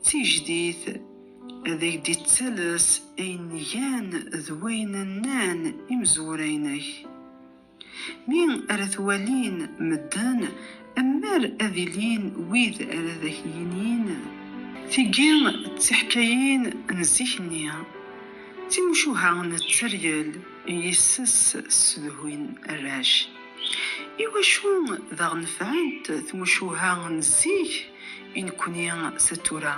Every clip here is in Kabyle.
D tijdit, ad ak-d-ittales ayen gan d wayen nnan imezwura-inek. Mi ara t-walin medden, am mer ad ilin wid ara d ak-yinin. Tigi d tiḥkayin n zik-nni, d timucuha n tteryel i yis-s ssedhuyen arrac. Iwacu daɣ nefɛent tmucuha n zik i nekni s tura?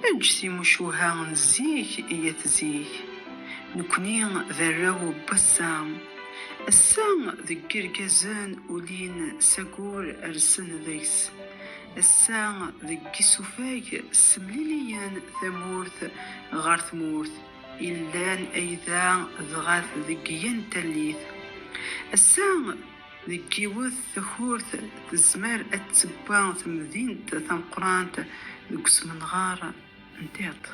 Eǧǧ timucuha n zik i at zik. Nekni d arraw n wass-a. Ass-a deg yirgazen ulin s agur rsen deg-s. Ass-a deg yisufag ssemliliyen tamurt ɣer tmurt. Illan ayda dɣat deg yen tallit. Ass-a, deg yiwet takurt, tezmer ad tewwa temdint tameqqrant deg usmenɣer n tiṭ.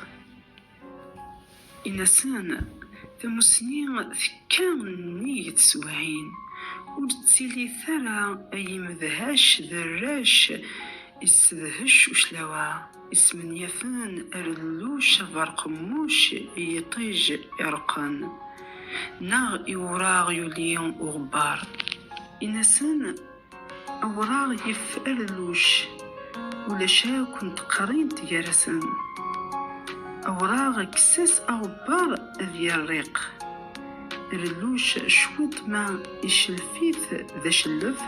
Inasen, tamussni tekka nnig teswiɛin, ur ttilitt ara ay imedhac d arrac, yessedhec uclaw-a. Ismenyafen arelluc aberqemmuc i yiṭij ireqqen, neɣ i wuraɣ yuli uɣebbar. Inasen awraɣ yif arelluc, ulac akk n teqrint gar-asen. Awraɣ kkes-as aɣebbar ad yerriq. Arelluc cwiṭ ma icellef-it d acellef,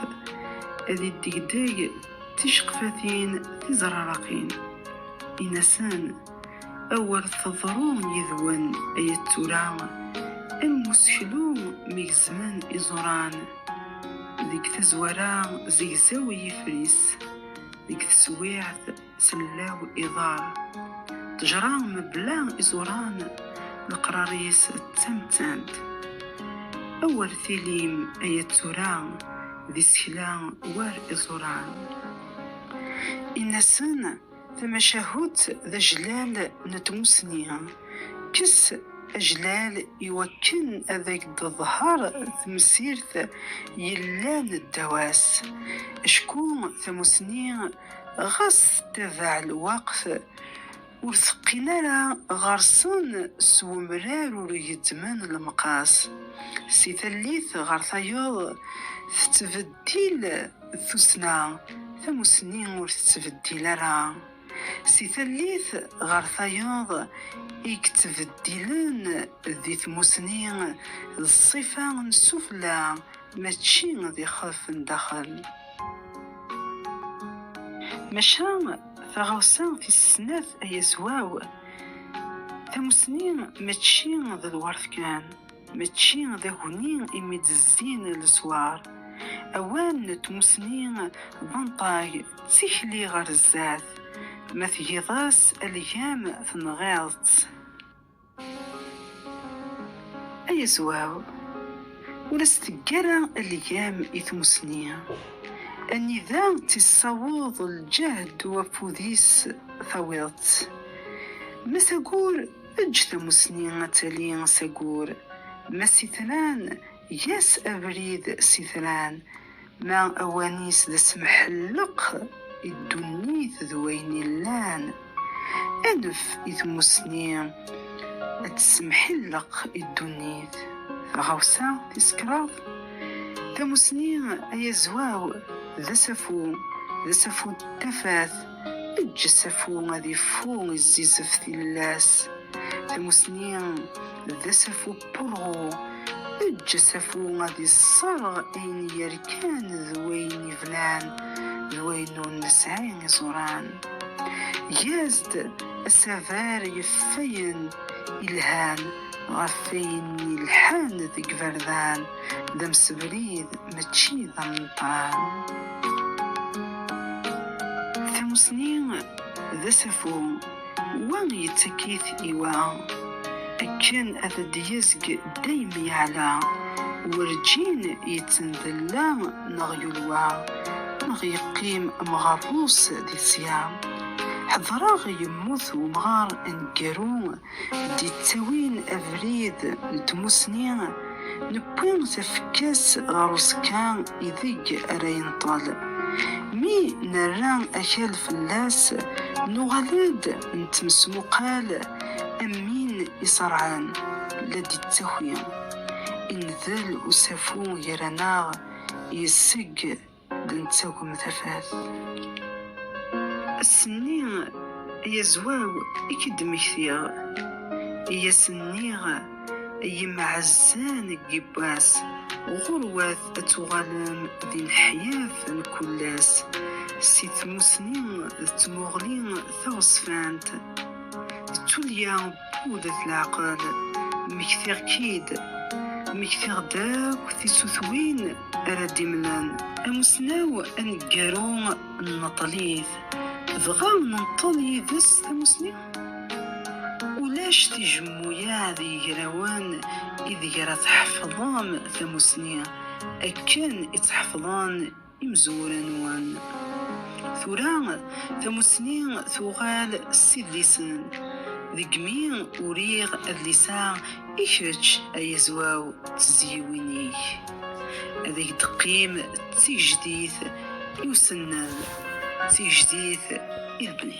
ad iddegdeg ticeqfatin tizraraqin in-asen awer teḍru yid-wen ay at tura am useklu mi gezmen iẓuran deg tazwara zegzaw yifris deg teswiɛt sellaw iḍar ṭejra mebla iẓuran leqrar-is d tamettant awer tilim ay at tura d isekla war iẓuran. Inna-sen, Tamacahut d ajlal n tmussni. Kkes ajlal iwakken ad ak-d-teḍher temsirt yellan ddaw-as. Acku tamussni ɣas tettabaɛ lweqt, Ur teqqin ara ɣer-sen s wemrar ur gezzmen lemqas. Si tallit ɣer tayeḍ tettbeddil tussna, tamussni ur tettbeddil ara. Si tallit ɣer tayeḍ i yettbeddilen di tmussni d ṣṣifa n sufella mačči d ixef n daxel. Maca Taɣawsa tis snat, a Yezwaw, tamussni mačči d lwert kan, mačči d aguni imi d-zzin leswar. Awal n tmussni d anṭag, d tikli ɣer zdat, ma tgiḍ-as algam tenɣiḍ-tt. Ay azwaw, ur as-tegg ara algam i tmusni, anida tt-issaweḍ lǧehd u afud-is tawiḍ-tt. Ma s agur, eǧǧ tamusni ad tali s agur, ma s itran, Eg-as abrid s itran, ma awan-is d asemḥelleq i ddunit d wayen illan. Anef i tmussni ad tessemḥilleq i ddunit. Taɣawsa tis kraḍ, Tamussni ay azwaw d asafu, d asafu n tafat, eǧǧ asafu ad ifu i zzizef tillas. Tamussni d asafu. Purɣu, eǧǧ asafu ad isserɣ ayen yerkan d wayen yeblan d wayen ur nesɛi iẓuran. Eg-as-d asaber yef wayen yelhan ɣef wayen yelḥan deg yiberdan, d amsebrid mačči d ameṭṭan. Tamussni d asafu. Wa yettekk-it i wa, akken ad d-yezg dayem yeɛla, werǧin yettendella neɣ yulwa, neɣ yeqqim mɣerrus di tesya. Ḥedreɣ yemmut wemɣar aneggaru d-yettawin abrid n tmussni, Nekwi tafekka-s ɣer uẓekka ideg ara yenṭel. Mi nerra akal fell-as, nuɣal-d nettmesmuqal am win iṣerɛen, la d-ittaki. Indel usafu gar-aneɣ, yessegg. Nettagem tafat. Ass-nni yazwaw i k-id-mmektiɣ, i as-nniɣ i yimɛazzan n yibbas, ɣurwat ad tuɣalem d ineḥyaf n kullas, si tmusni d tmuɣli taɣezfant, d tulya. Udet leɛqel, mmektiɣ-k-id, mmektiɣ-d akk tisutwin ara d-imlen. Amussnaw aneggaru nneṭṭel-it, dɣa nenṭel yid-s tamussni? Ulac tijemmuyaɛ d yigrawen ideg ara tḥefḍem tamussni akken i tt-ḥefḍen imezwura nwen. Tura tamussni tuɣal s idlisen. Deg mi uriɣ adlis-a i kečč ay Azwaw d tezyiwin-ik, ad ak-d-teqqim d tigejdit i usennan, d tigejdit i lebni.